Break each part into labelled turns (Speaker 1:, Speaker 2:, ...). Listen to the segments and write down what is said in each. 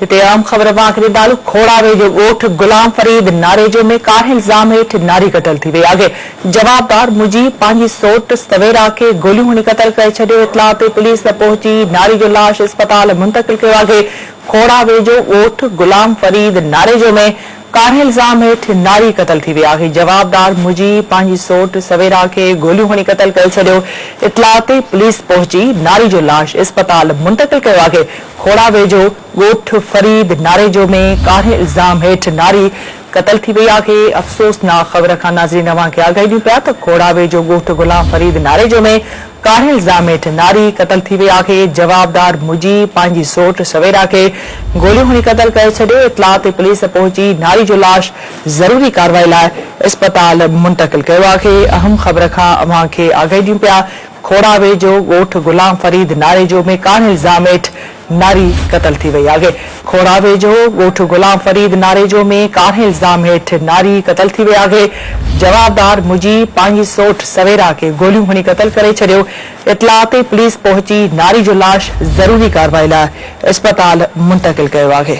Speaker 1: هتي اهم خبر مان آخري تعلق کوڙاوي جو ڳوٺ غلام فريد ناريجو ۾ ڪاهي الزام هيٺ ناري قتل ٿي وئي آگهي جوابدار مجيب پنهنجي سوٽ سويرا کي گوليون هڻي قتل ڪري ڇڏيو اطلاع تي پوليس پهچي ناري جو لاش اسپتال منتقل ڪيو آگهي کوڙاوي جو ڳوٺ غلام فريد ناريجو ۾ ڪاري الزام هيٺ ناري قتل ٿي وئي آهي، جوابدار مجي پنهنجي سوٽ سويرا کي گوليون هڻي قتل ڪري ڇڏيو، اطلاع تي پوليس پهچي ناري جو لاش اسپتال منتقل ڪيو آهي، کوڙا ويجهو ڳوٺ فريد ناريجو ۾ ڪاري الزام هيٺ ناري قتل ٿي وئي آهي، افسوسناڪ خبر کان ناظرين اوهان کي آگاهي ڏيون پيا ته کوڙا ويجهو ڳوٺ غلام فريد ناريجو ۾ ڪاهي الزام هيٺ ناري قتل ٿي وئي آهي، جوابدار مجي پنهنجي سوٽ سويرا کي گوليون هڻي قتل ڪري ڇڏيو، اطلاع تي پوليس پهچي ناري جو لاش ضروري ڪاروائي لاء اسپتال منتقل ڪيو آهي، اهم خبر کان اوهان کي آگاهي ڏيون پيا، کوڙا ويجهو ڳوٺ غلام فريد ناريجو ۾ ڪاهي الزام هيٺ ناري قتل ٿي وئي آهي. کوڙا ويجهو ڳوٺ غلام فريد ناريجو ۾ ڪارنهن الزام هيٺ ناري قتل ٿي وئي آهي، جوابدار مجي پنهنجي سوٽ سويرا کي گوليون هڻي قتل ڪري ڇڏيو، اطلاع تي پوليس پهچي ناري جو لاش ضروري ڪارروائي لاء اسپتال منتقل ڪيو آهي.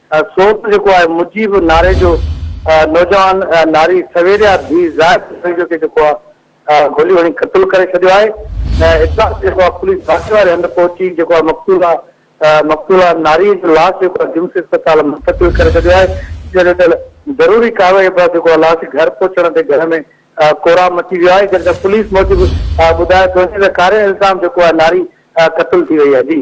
Speaker 2: سوز جيڪو آهي مجيب ناري جو نوجوان ناري سويريا ڌي زاهد ناري جو کي جيڪو آهي گوليون هڻي قتل ڪري ڇڏيو آهي ۽ اطلاع تي جيڪو آهي پوليس واقعي واري هنڌ پهچي جيڪو آهي مقتولا مقتولا ناري جو لاش جيڪو آهي جمس اسپتال منتقل ڪري ڇڏيو آهي جڏهن ته ضروري ڪارروائي بعد جيڪو آهي لاش گهر پهچڻ تي گهر ۾ ڪورام مچي ويو آهي جڏهن ته پوليس موجب ٻڌايو ٿو وڃي ته ڪاري الزام جيڪو آهي ناري قتل
Speaker 1: ٿي وئي
Speaker 2: آهي جي